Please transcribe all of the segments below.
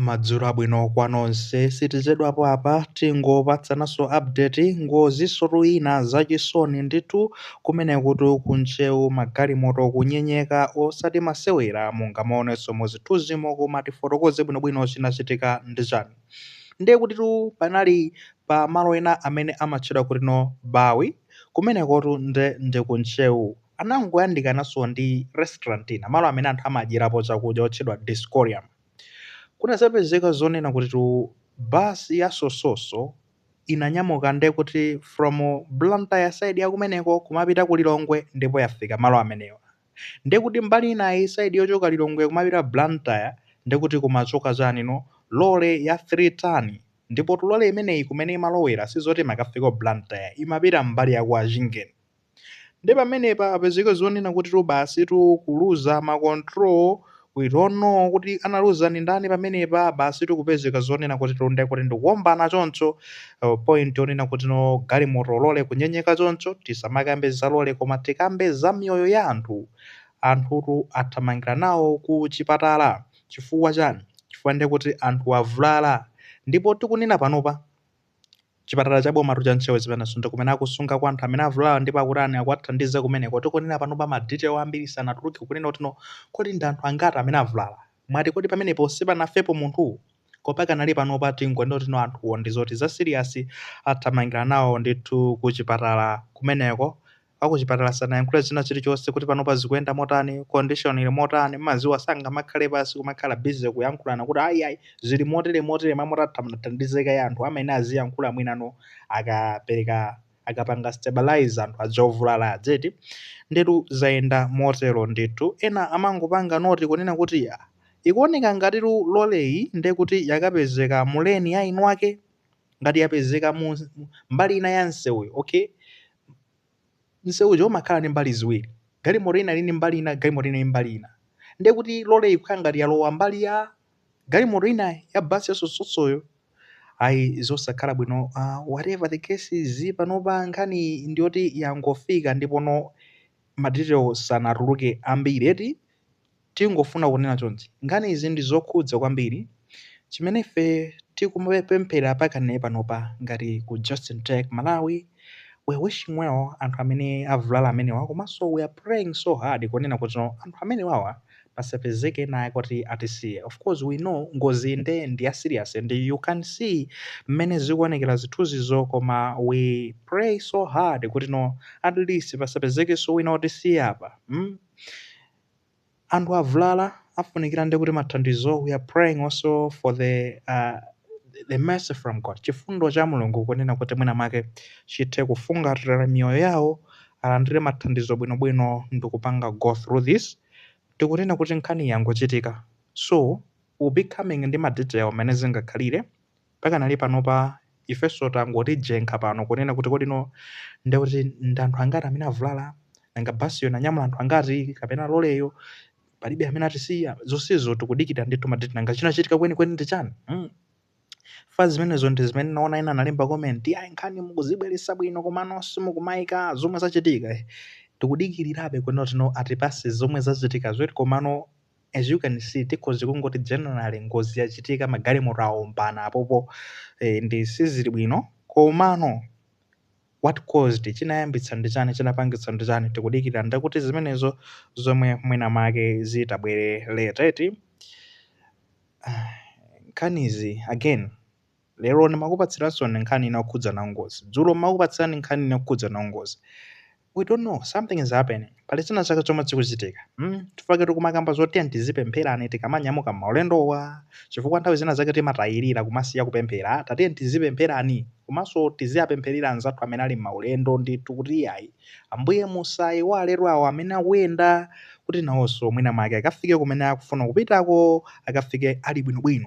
Madzulo abwino kwa nonse sitichedwapo apa tingopatsananso update ngozisotu ina zachisoni ndithu kumenekotu ku Ntcheu magalimoto kunyenyeka osati masewera mungamaonenso muzithunzimo koma tifotokoze bwinobwino chinachitika ndi chani ndiye kutitu panali pa malo ena amene amatchedwa kuti no Bawi kumenekotu nde ndi ku Ntcheu anangoyandikananso ndi restaurant ina, malo amene anthu amadyerapo chakudya, otchedwa Dioscorium. Kunazapezeka zonena kutitu basi ya Sososo inanyamuka nde kuti from Blantyre side ya kumeneko kumapita ku Lilongwe ndipo yafika malo amenewa. Nde kuti mbali inayi, side yochoka Lilongwe kumapita Blantyre, nde kuti kumachoka chani no? Lole ya 3 ton. Ndipotu lole imeneyi kumene imalowera sizoti imakafika ku Blantyre, imapita mbali ya kwa Chingeni. Nde pamenepa apezeke zonena kutitu basitu kuluza ma control we don't know kuti analuza ndi ndani pamenepa basitu kupezeka zonena kutitu nde kuti ndikuombana choncho uh, point yonena kuti no galimoto lole kunyenyeka choncho tisamakambe za lole koma tikambe za miyoyo ya anthu anthutu athamangira nawo ku chipatala chifukwa chani chifukwa nde kuti anthu avulala ndipo tikunena panopa Chipatala cha bomatu cha Ntcheu zimenezo ndi kumene akusungako anthu amene avulala ndipo akutani akuwathandiza kumeneko. Tikunena panopa ma detail ambiri sanatuluke kunena kuti no kodi ndi anthu angati amene avulala. Mwati kodi pamenepo sipanafepo munthu? Koma pakanali panopa tingonena kuti no anthuwo ndi zoti za serious athamangira nawo ndithu kuchipatala kumeneko akuchipatala sanayankhule china chilichonse kuti panopa zikuyenda motani, condition ili motani, mmadziwa sangamakhale pansi kumakhala busy kuyankhulana kuti ayi ayi zili motere motere muthandize kaye anthu amayenera aziyankhula mwinano akapereka akapanga stabilize anthu aja ovulala aja eti ndetu zayenda motero ndithu ena amangopanga noti kunena kuti "Ah, ikuoneka ngatitu loleyi ndekuti yakapezeka mu lane ina yake ngati yapezeka mu mu- mbali ina ya msewuyo okay msewuja umakhala ndi mbali ziwiri galimoto ina ili ndi mbali ina galimoto ina ili mbali ina ndiye kuti lole ikukhala ngati yalowa mbali ya galimoto ina ya basi ya Sososoyo ayi zosakhala bwino uh, whatever the case is panopa nkhani ndiyoti yangofika ndipono madetails sanatuluke ambiri eti Tingofuna kunena chonchi, nkhani izi ndi zokhudza kwambiri chimene ife tikumapemphera pakane panopa ngati ku Justin Tech Malawi, we're wishing well anthu amene avulala amenewa komanso we're praying so hard kunena kutino anthu amenewawa pasapezeke ena wake oti atisiye. Of course we know ngoziyi nde ndi ya serious and you can see mmene zikuonekera zithunzizo koma we pray so hard kutino at least pasapezekenso wina otisiya apa mm. Anthu avulala afunikira nde kuti mathandizo we are praying also for the uh, the mercy from God chifundo cha Mulungu kunena kuti mwina make chithe kufungatira miyoyo yawo alandire mathandizo bwinobwino ndikupanga go through this tikunena kuti nkhani yangochitika so we'll be coming ndi ma detail mmene zingakhalire pakanali panopa ifenso tangoti jenkha pano kunena kuti kuti no nde kuti ndi anthu angati amene avulala nanga basiyo inanyamula anthu angati kapena loleyo palibe amene atisiya zonsezo tikudikira ndithu ma detail nanga chinachitika kwenikweni ndi chani chifukwa zimenezo ndi zimene ndaona ena analemba comment ayi nkhani mukuzibweresa bwino komano simukumayika zomwe zachitika tikudikirirabe kunena kuti no atipatse zomwe zachitikazo eti komano as you can see tikhoza kungoti generally ngozi yachitika magalimoto awombana apopo eh, ndi sizili bwino komano what caused it chinayambitsa ndi chani chinapangitsa ndi chani tikudikira nde kuti zimenezo zomwe mwina make zitabwere late eti nkhanizi again Lero ndimakupatsiraninso nkhani ina yokhudzana ndi ngozi. Dzulo ndimakupatsirani nkhani ina yokhudzana ndi ngozi. We don't know, something is happening. Pali china chake chomwe chikuchitika. Mm? Chifukwa choti kumakamba zoti tiyeni tizipempherani tikamanyamuka m'maulendowa. Chifukwa nthawi zina zake timatayirira kumasiya kupemphera. Tatiyeni tizipempherani. Komanso tiziwapempherera anzathu amene ali m'maulendo ndithu kuti iyayi. Ambuye musaiwale awo amene akuyenda kuti nawonso mwina mwake akafike kumene akufuna kupitako akafike ali bwinobwino.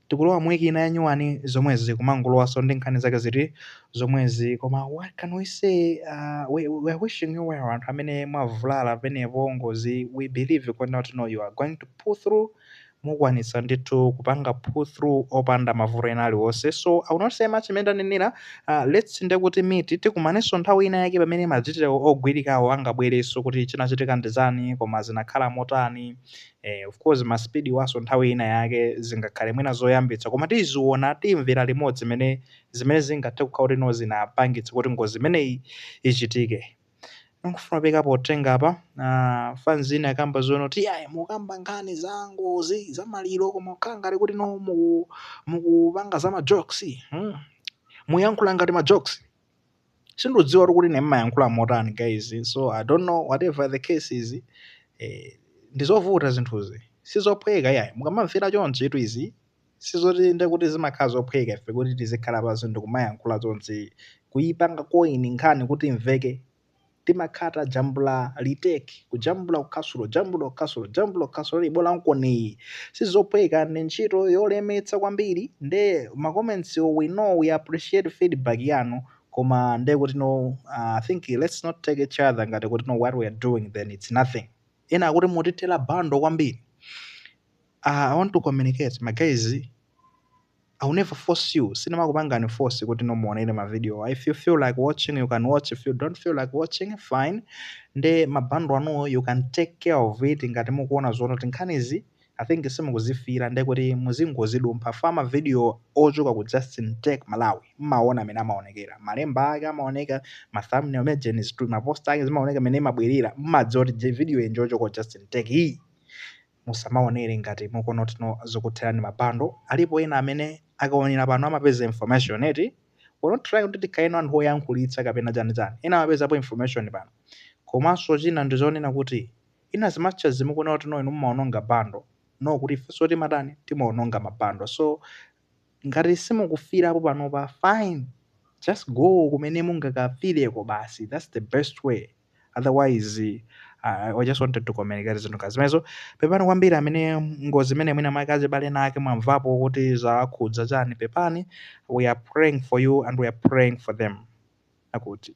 Tikulowa mu week ina ya nyuwani zomwezi kumangolowanso ndi nkhani zake ziti zomwezi koma what can we say uh, we, we are wishing you well anthu amene mwavulala panopo pa ngozi we believe kuti no you are going to pull through mukwanitsa ndithu kupanga pull through opanda mavuto ena aliwonse so i will not say much mmene ndanenera uh, let's nde kuti meet tikumanenso nthawi ina yake pamene madetail ogwirikawo angabwerenso kuti chinachitika ndi chani koma zinakhala motani Eh, of course ma speed wanso nthawi ina yake zingakhale mwina zoyambitsa koma tiziona timvera limodzi zimene zimene zingathe kukhala kuti no zinapangitsa kuti ngozi imeneyi ichitike ndikufuna kupepesa potenga apa uh, fans ina ikukamba zonena kuti ayi mukamba nkhani za ngozi za maliro koma kukhala ngati kuti no muku- mukupanga za majokes hmm. muyankhula ngati majokes sindudziwa kuti ine mmayankhula motani guys so i don't know whatever the case is eh, ndizovuta zinthuzi sizophweka yayi mukamamvera chonchi itu izi sizoti nde kuti zimakhala zophweka ife kuti tizikhala pansi ndikumayankhula chonchi kuipanga koini nkhani kuti imveke timakhala tajambula retake kujambula kuphwasula jambula kuphwasula jambula kuphwasula lili bola nkhaniyi sizophweka ndi ntchito yolemetsa kwambiri nde ma comments wo we know we appreciate feedback yanu koma nde kuti no I think let's not take each other ngati kuti no what we are doing then it's nothing ena akuti mutithera bundle kwambiri uh, i want to communicate ma guys I will never force you, sindimakupangani force kuti no muonere ma video wa if you feel like watching you can watch, if you don't feel like watching fine, nde ma bundle anuo you can take care of it ngati mukuona zoona kuti nkhanizi I think simukuzifila nde kuti muzingozidumpha fa ma video ochoka ku Justin Tech Malawi mmaona mmene amaonekera, malemba ake amaoneka, ma thumbnail amene Jane is doing, ma post ake zimaoneka mmene zimabwerera, mmadziwa kuti je- video iyi njochoka ku Justin Tech iyi. musamaonere ngati mukuona kuti no zikukutherani ma bundle alipo ena amene akaonera pano amapeza information eti we're not trying kuti tikhaleno anthu oyankhulitsa kapena chani chani ena amapezapo information pano komanso china ndichonena kuti in as much as mukunena kuti no inu mumaononga bundle no kuti ifenso timatani timaononga ma bundle so ngati simukufirapo panopa fine just go kumene mungakafireko basi that's the best way. otherwise uh, I just wanted to communicate zinthu ngati zimenezo pepani kwambiri amene ngozi imene mwina mwake azibale ena ake mwamvapo kuti zawakhudza chani pepani we are praying for you and we are praying for them akuti